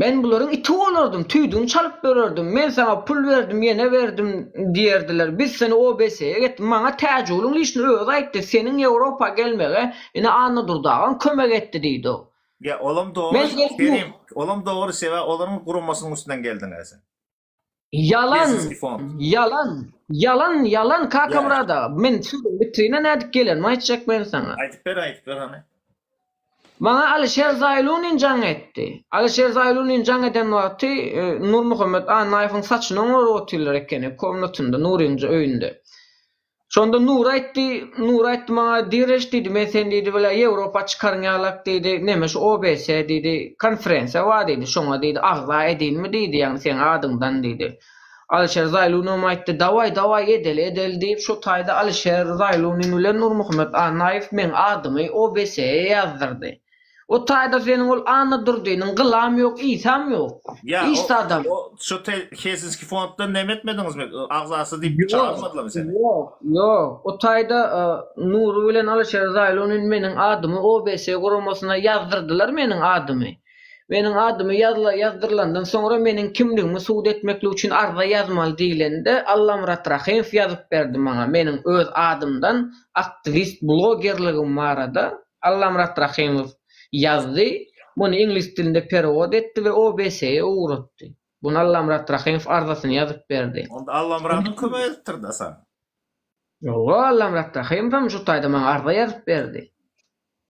Men bularyň iti bolardym, tüýdügini çalyp ýörerdim, men saňa pul berdim, ýene berdim diýerdiler. Biz seni OBS-e getirdik. Maňa Täjigulyň işini özi aýtdy, seniň Ýewropa gelmege ine Annadurdy dagam kömek etdi diýdi. Ýa, olam dogry, Kerim, olam dogry, sebäbi olaryň guramasynyň üstünden geldiň-ä sen. Ýalan, ýalan, ýalan, ýalan Kakamyrat aga. Men sözüň bitirine nädip gelenimi aýtjak men saňa. Aýdyp ber, aýdyp ber hany. Maňa Alişer Zaýlunin jaň etdi. Alişer Zaýlunin jaň eden wagty e, Nurmuhammet Annaýewiň saçyny oňaryp otyrlar ekeni, komnatynda, Nuryň öýünde. Şonda Nury aýtdy, Nury aýtdy maňa, Direş diýdi, men seni diýdi, bilä Ýewropa çykaryn ýalak diýdi, neme şu OBS diýdi, konferensiýa bar diýdi, şoňa diýdi, agza edinmi diýdi, ýagny seň adyňdan diýdi. Alyşer Zaýlunow aýtdy, dawaý, dawaý edeli, edeli diýip, şo taýda Alyşer Zaýlunin bilen Nurmuhammet Annaýew meň adymy OBS-e ýazdyrdy. O taýda seniň ol Anna Durdynyň gylam ýok, Isam ýok. Ýa, o, Işde adam. o, şu te, Helsinski fonddan neme etmediňizmi? Ö, Agzasy diýip Ýok, çagyrmadylarmy seni? ýok, ýok. O taýda e, Nury bilen Alyşer Zaýlunin meniň adymy OBS guramasyna ýazdyrdylar meniň adymy. Meniň adymy ýazla, ýazdyrylandan soňra meniň kimligimi subut etmeklik üçin arza ýazmaly diýilende Allamyrat Rahymow ýazyp berdi maňa meniň öz adymdan aktiwist blogerligim barada. Allamyrat Rahymow ýazdy, muny iňlis dilinde perewod etdi we OBS-e ugratdy. Bunu Allamyrat Rahymow arzasyny ýazyp berdi. Onda Allamyradam kömek edipdir-dä saňa? Ýogsa Allamyrat Rahymowam şu taýda maňa arza ýazyp berdi.